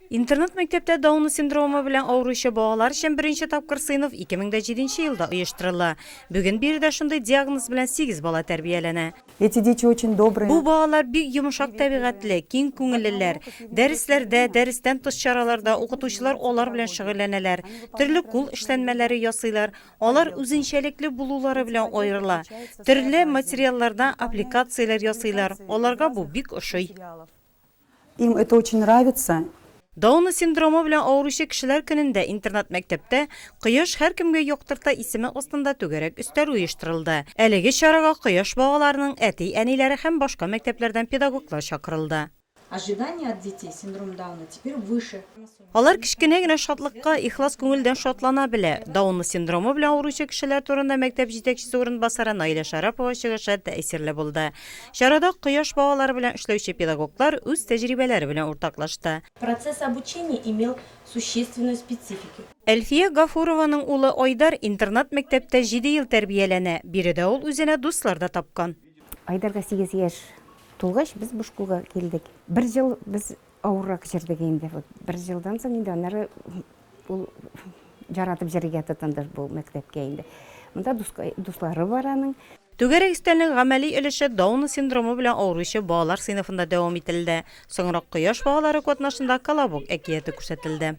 Интернат-мәктәптә Дауны синдромы белән авыручы балалар өчен беренче тапкыр сыйныф 2007 елда оештырыла. Бүген биредә шундый диагноз белән 8 бала тәрбияләнә. Эти дети очень добрые. Бу балалар бик йомшак тәбигатьле, киң күңеллеләр. Дәресләрдә, дәрестән тыш чараларда укытучылар алар белән шөгыльләнәләр, төрле кул эшләнмәләре ясыйлар, алар үзенчәлекле булулары белән аерыла. Төрле материаллардан аппликацияләр ясыйлар, аларга бу бик ошый. Им это очень нравится. Дауны синдромы белән авыручы кешеләр көнендә интернат-мәктәптә Кояш һәркемгә яктырта исеме астында түгәрәк өстәл оештырылды. Әлеге чарага Кояш балаларының әти-әниләре һәм башка мәктәпләрдән педагоглар чакырылды. Ожидания от детей с синдромом Дауна теперь выше. Алар кечкенә генә шатлыкка ихлас күңелдән шатлана белә. Даунлы синдромы белән авыручы кешеләр турында мәктәп җитәкчесе урынбасары Наилә Шәрапова чыгышы тәэсирле булды. Чарада Кояш балалары белән эшләүче педагоглар үз тәҗрибәләре белән уртаклашты. Процесс обучения имел существенную специфику. Әлфия Гафурованың улы Айдар интернат-мәктәптә җиде ел тәрбияләнә. Биредә ул үзенә дуслар да тапкан. Айдарга сигез яшь тулгач, без бу школга килдек. Бер ел без Авыррак җырлыйк инде. Вот бер җылдан соң инде аннары ул яратып җырлыйга тотынды бу мәктәпкә инде. Монда дуслары бар аның. Түгәрәк өстәлнең гамәли өлеше Даун синдромы белән авыручы балалар сыйныфында дәвам ителде. Соңрак Кояш багалары катнашында Колобок әкияте күрсәтелде.